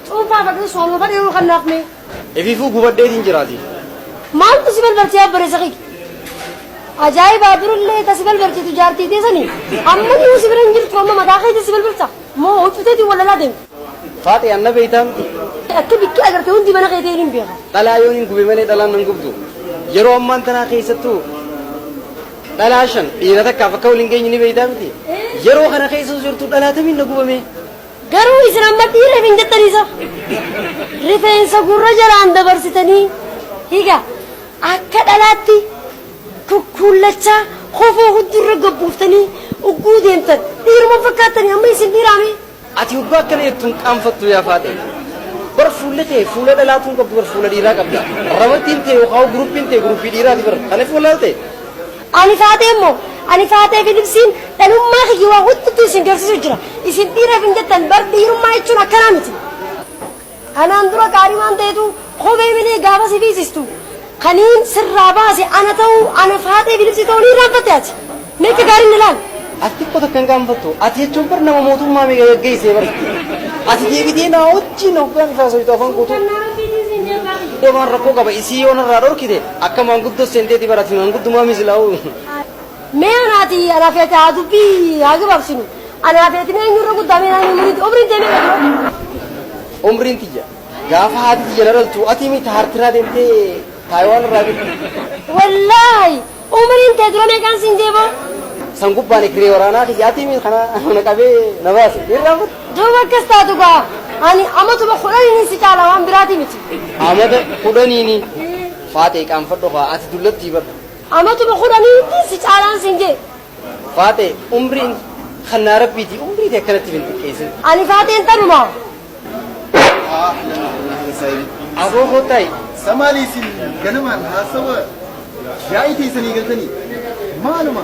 Cuunfaa fadhuu sooma fadhii yeroo kan naaf mee. Efiifuu gubadheetiin jiraati. Maaltu si balbartee abbareessa kiyya? Ajaa'ibaa durillee ta si balbartitu jaartii teessanii amma nuu si bira hin jirtu amma mataa keetii si balbarta moo huccuteetiin walalaa deemti. Faaxee anna beeytaa miti. Akka bikki agarte hundi mana keetii hin beeka. Dhalaa yoon hin gube malee dhalaan nan gubdu. Yeroo ammaan tanaa keessattuu dhalaa shan dhiira takkaaf akka waliin geenye ni beeytaa miti. Yeroo kana keessa jirtu dhalaa tamiin na gubamee. Garuu isin amma dhiira hin jettanii sa? Rifeensa gurra jalaan dabarsitanii higa akka dhalaatti kukkuullachaa kofoo huddurra gad buuftanii ugguu deemtan dhiiruma fakkaattanii amma isin dhiiraamee? Ati hoggaa akkana jettu hin qaanfattu yaa faaxee. Bar fuulli tee fuula dhalaatuu hin qabdu bar fuula dhiiraa qabda. Ramattiin tee yookaan guruppiin tee guruppii dhiiraati bar. Kanaaf wallaalte. Ani Faatee immoo, ani Faatee fi Libsiin dhalummaa kiyya waa hundatu isin garsiisu jira. Isin dhiira hin jettan, bar dhiirummaa jechuun akkanaa miti. Kanaan dura gaarii waan ta'etu kophee malee gaafa si fiisistu kaniin sirraa baase ana ta'uu, ana Faatee fi Libsii ta'uu ni irraanfatte ati? Mee akka gaariin na ilaali. Ati xiqqoo takka hin qaanfattu? Ati jechuun bar nama mootummaa meeqa gaggeesse bar. Ati deebitee naa wajjin hoggaan itti haasoytu afaan guutuu. Deemaan rakkoo qaba isii yoo narraa dhorkite Akka maanguddoo seenteeti bar ati maanguddumaami silaa'uu. Mee anaati anaaf ati haa dubbii haa gabaabsinu. Anaaf ati mee eenyurra guddaa mee naannoo umriitti umriin ta'e meeqa dura? Umriin tiyya gaafa haati tiyya na dhaltu ati miti haartiraa deemtee Taayiwaan irraa fidde. Wallaahi umriin ta'e dura meeqaan siin jee boo? San gubbaan ekree waraanaa kiyya ati miti kana na qabee na baase. Irraa fudhe. Duuba akkas taatu gaa, ani amatuma kudhaniinin si caala waan biraatii miti. Amata kudhaniini? Faaxee qaanfadhu kaa, ati dullattii bar. Amatuma kudhaniinittiin si caalaan siin je'e. Faaxee, umriin kannaa Rabbiiti, umrii tee akkanatti if hin xiqqeessin. Ani Faaxeen tanumaa. Aboo kottaayi. Sa maali isin ganamaan haasawa yaa'ii teessan eegaltanii? Maaluma?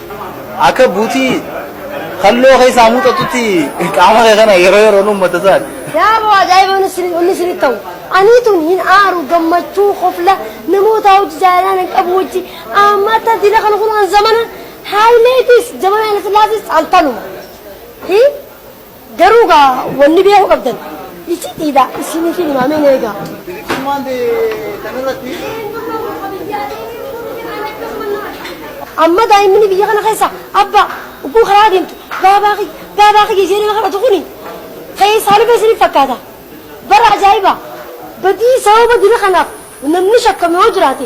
Akka buutii kalloo keessaa muuxatutti qaama kee kana yeroo yeroon uummata isaati. Yaaboo ajaa'iba wanni isin- wanni isinitti ta'u. Anii tun hin aaru gammachuu kofla namoota hojii jaalalaa nan qabu wajji ammata dila kan kun an zamana haayileetis zamana ilfilaatis altanuma. Hi? Garuu gaa wanni beekuu qabdan icitiidha isiniifin hima mee na eegaa. Bilisummaan kan irratti. Amma daa'imni biyya kana keessa abbaa ugguu karaa deemtu baabaa kiyya baabaa kiyya ishee nama kadhatu kuni keessaa dhufe isiniif fakkaata. Bara ajaa'iba badii sababa dina kanaaf namni shakkame yoo jiraate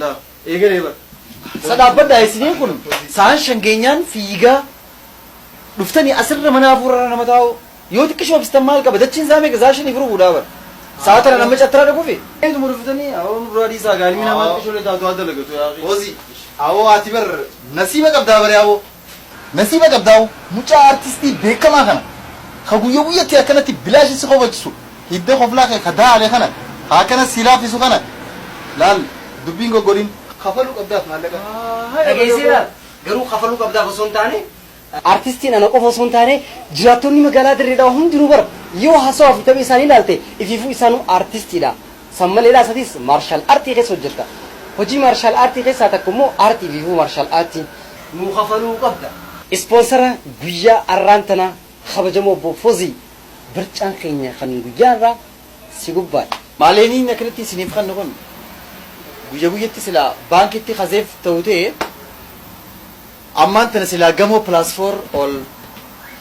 Laa. Eegalee bar. Sa dhaabbadhaa isiniin kun sa'aan shan geenyaan fiigaa dhuftanii asirra mana hafuurarra nama taa'u yoo xiqqishoo bistan maal qaba dachiin isaa meeqa saa shaniif rubuudhaa bar saa tana nama cattara dhaquufi. Eetuma dhuftanii awoo nu duraa dhiisaa gaalimi namaa xiqqishoo lee taatu haa dalagatu yaa. Fozi. Awoo ati bar nasiiba qabdaa baree awoo. Nasiba qabdaawo mucaa artistii beekamaa kana ka guyya guyyatti akkanatti bilaashi si kofalchisu hidda koflaa kee ka daale kana ka akkana si laaffisu kana laal dubbi hin goggodhin. Kafalu qabdaaf maallaqa dhageesseera garuu kafaluu qabdaaf osoo hin taane, artistiin ana qofa osoo hin taane jiraattonni magaalaa Dirree Dhawaa hundinuu bar yoo haasawaa fi taphee isaanii ilaalte ifiifuu isaanuu artistiidha. San maleedhaas atis maarshaal artii keessa hojjetta. Hojii maarshaal aartii keessaa takka immoo aartii fi huu maarshaal aartii. nuu kafaluu qabda. Ispoonsara guyyaa arraan tanaa kabajamoo obbo Fozii barcaan keenya kan guyyaa arraa si gubbaadha. Maaleeniin akkanatti isiniif kannu kun guyya guyyatti silaa baankitti ka zeef ta'u ta'e. Ammaan tana silaa gamoo plus four ol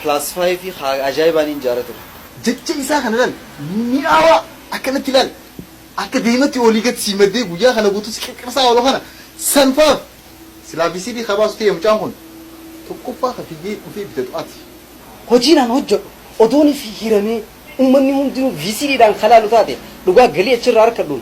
plus five ka ajaa'ibaa niin ijaara ture. Jecha isaa kana laal mi'aawaa akkanatti laal akka daimatti olii gad sii maddee guyyaa kana guutuu si qirqirsaa oolu kana san faaf silaa VCD ka baasu ta'ee mucaan kun tokkoffaa ka fiigee dhufee bitatu ati. Hojiin an hojjadhu odoon hiramee ummanni hundinuu VCD dhaan ka laalu taate dhugaa galii achirraa arkadhuun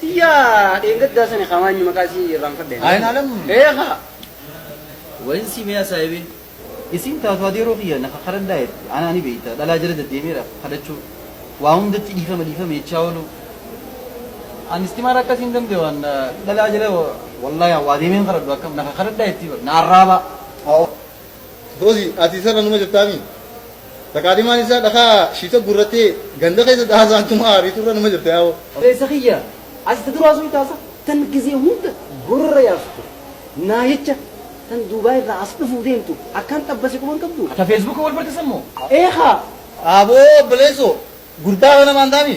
Tiyyaa dheengaddaa sani kaa maanyu maqaa isii irraanfadhe. Ayinaalam. Ee kaa. Wayin sii mee asaayibee. Isiin taatu adeeroo kiyya na kakadhadhaa jetti anaa ni beeyta dhalaa jala daddeemeedha kadhachuu waa hundatti dhiifama dhiifama jechaa ooluu an istimaara akkasii hin danda'u an dhalaa jala wallaahi an waa deemeen kadhadhu akkam na kakadhadhaa jettii bar na arraabaa. Rozi ati isarra numa jirtaami taqaadimaan isaa dhakaa shiita gurrattee ganda keessa daasaan tuma aariitu irra numa jirta yaa'oo. Obleessa kiyya ati ta duraa soyta sa tan gizee hunda gorora yaasu ture naa jecha tan duubaay irraa as dhufuu deemtu akkaan xabbase quban qabdu. Ta facebook wal bartesan moo. Ee kaa. Aboo obboleessoo gurbaa kana maantaami.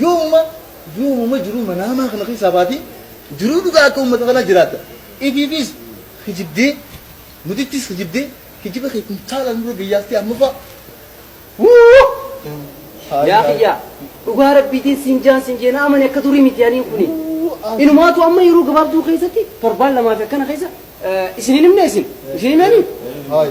Yoomuma yoomuma jiruu manaamaa kana keessaa baatee jiruu dhugaa akka uummata kanaa jiraatta. Ifiifis kijibdee nutittis kijibdee kijiba kee kuntaalaan nurra gayyaastee ammaffaa. Wuu! Haay Yaa haay. kiyyaa dhugaa rabbiitiin siin jaan siin jeena amani akka durii miti aniin kuni. Inumaatu amma yeroo gabaabduu keessatti torbaan lamaa fi akkana keessa eh, isin hin himne isin isin himeeni. Haay.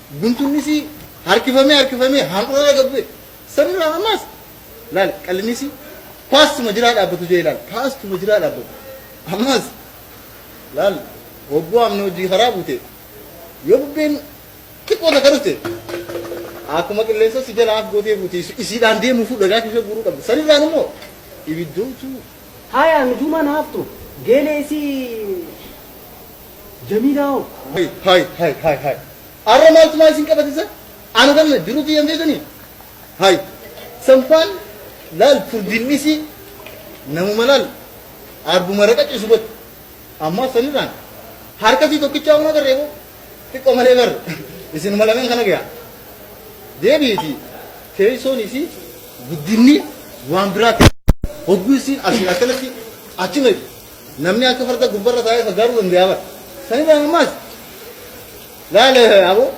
Guntunnisii harkifamee harkifamee handhuura laga bu'e. Sanirraa ammaas laal qallinnisii paastuma jiraa dhaabbatu jee laal paastuma jiraa dhaabbatu. Ammaas laal hogguu amni hojii karaa buute yoo bubbeen xiqqoo takka dhufte akkuma qilleensa si jala af gootee fuuti isiidhaan deemuufuu dhagaa keessa guuruu qabda. Sanirraan immoo ibiddootu. Haayaa nujuumaan haaftu geelee isii. Jamiilaa hoo? Hay hay hay hay hay arra maaltu maa isin qabate san ana tan jiru tiyyan feetani hay sanfaan laal furdiin dhisii namuma laal arbuma raqa cisu got ammaa sanirraan harkasii tokkichaa huma garree boo xiqqoo malee bar isinuma lameen kana gayaa deebiiti teessoon isii guddinni waan biraa ta'e hogguu isiin asiin akkanatti achuma Namni akka farda gubbarra taa'ee faggaaruu danda'a bara. Sanirraa ammaas laale aboo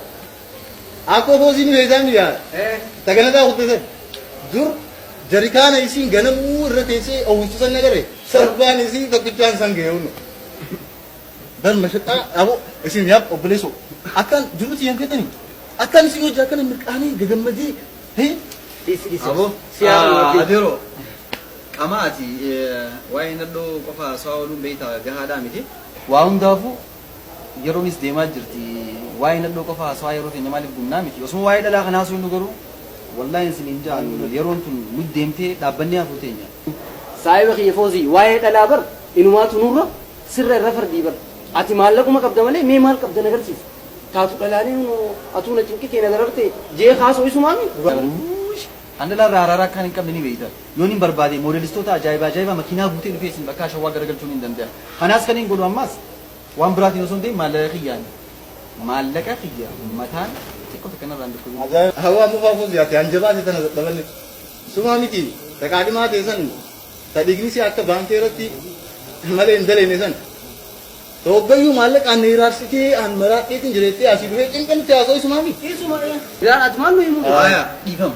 akkoo foosii ni beektaa ni yaala. Taganataa kutte san dur jarikaana isiin ganamuu irra teessee oowwistu san agarre sarbaan isii tokkichaan san ga'e hundu. Dan mashaqaa aboo isin yaab obboleessoo akkaan jirutti hin fetani akkaan isin hojii akkana mirqaanii gagammadee hee Aboo. Adeeroo. Qamaa ati waa'ee nadhoo qofa haasawaa ooluun beekta gahaadhaa miti. Waa hundaafuu yeroonis deemaa jirti waa'ee nadhoo qofa haasawaa yeroo keenya maaliif gubnaa miti osuma waa'ee dhalaa kana haasofnu garuu wallahi hin siniin ja'a nuun yeroon tun nut deemtee dhaabbannee hafuu teenya. Saahiba kiyya Foozii waa'ee dhalaa bar inumaatu nurra sirra irra fardii bar ati maallaquma qabda malee mee maal qabda nagarsiisi taatu dhalaalee hunoo atuu na cinqitee na darartee jee kaasoo isumaa mii gubaa. Uuush an dhalaa irraa haraara akkaan hin qabne ni beekta. Yoon hin barbaadee moodelistoota ajaa'iba ajaa'iba makiinaa guutee dhufee isin bakkaa shawwaa garagalchuu niin danda'a. Kanaas kaniin godhu ammaas waan biraatiin osoo hin ta'in maallaqa kiyyaani. Maallaqa kiyya mataan xiqqo takka narraa hin dhukkubin. Hawwaa mufaa fuuzi ati hanjabaate tana dadhabanne. Sumaa miti ta qaadhimaa tee san ta dhigni si akka baankee irratti malee hin daleene san. Ta hoggayyuu maallaqaan na hiraarsitee aan maraadheetiin jireettee asii dhufee cinqanitti haasoo isumaa miti. Isuma ee. Yaa ati maal nu himuu? Aya dhiifama.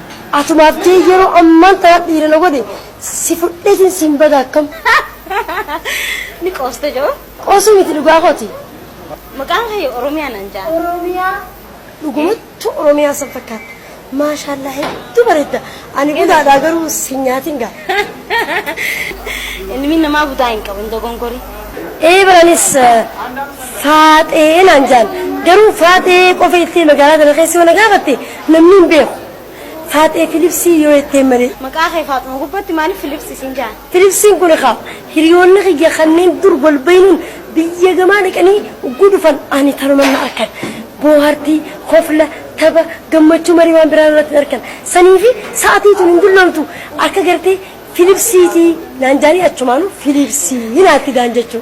Atumaaf tee yeroo ammaan tanaa dhiira na godhe si fudheetiin siin bada akkam. Ni qoosta joo. Qoosuu miti dhugaa kooti. Maqaan kee Oromiyaa naan ja'a. Oromiyaa. Dhugumattu Oromiyaa san fakkaatta. Maashaallaa hedduu bareedda. Ani butaadhaa garuu sin nyaatin gaa. Ilmi namaa butaa hin qabu hin dogongorii. Ee baranis faaxee naan jaan. Garuu faaxee qofa iltee magaalaa tana keessa yoo na gaafatte Namni hin beeku. Faaxee Filipsii yoo jetteen malee. Maqaa kee Faaxuma gubbatti maaliif Filips isiin ja'an? Filipsiin kun ekaa hiriyoonni kiyya kanneen dur wal beeynuun biyya gamaa dhaqanii ogguu dhufan ani tanuman na arkan. Boohartii, kofla, tapha, gammachuu malee waan biraa narratti hin arkan. Saniifi sa'atii tun hin dulloomtu akka gartee Filipsiitii naan ja'anii achumaanuu Filiipsii naan fidaan jechuu.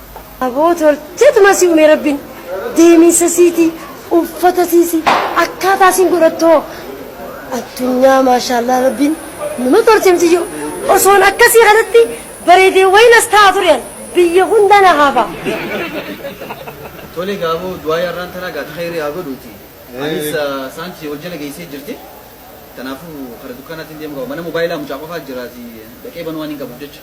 Aboo tolteet masii umee rabbin deemiinsa siitii uffata siisi akkaataa siin godhattoo addunyaa maashaallaa rabbin numa tolche miciyyoo osoon akkasii kanatti bareedee wayi nas ta'a ture an biyya hunda na haafa. Tole gaa aboo du'aayi har'aan tanaa gaa takayri haa godhuuti anis saanti wal jala geessee jirti tanaafuu kara dukkaanaatiin deemu qaba mana mobaayilaa mucaa qofaa jiraati dhaqee banuu waan hin qabuuf jecha.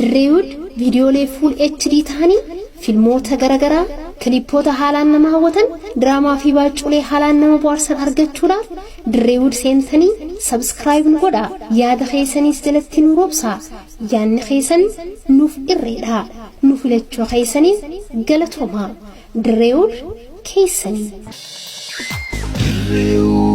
Dirreewood viidiyoolee fuul HD ta'anii filmoota garaagaraa, kilippoota haalaan nama hawwatan, diraamaa fi baacculee haalaan nama bohaarsan argachuudhaaf Dirreewood seentanii subscribe nu godhaa yaada keeysaniis jalatti nu roobsaa yaanni keeysan nuuf irreedha nu filachuu keeysaniif galatoomaa Dirreewood keeysanii. Dirreewood.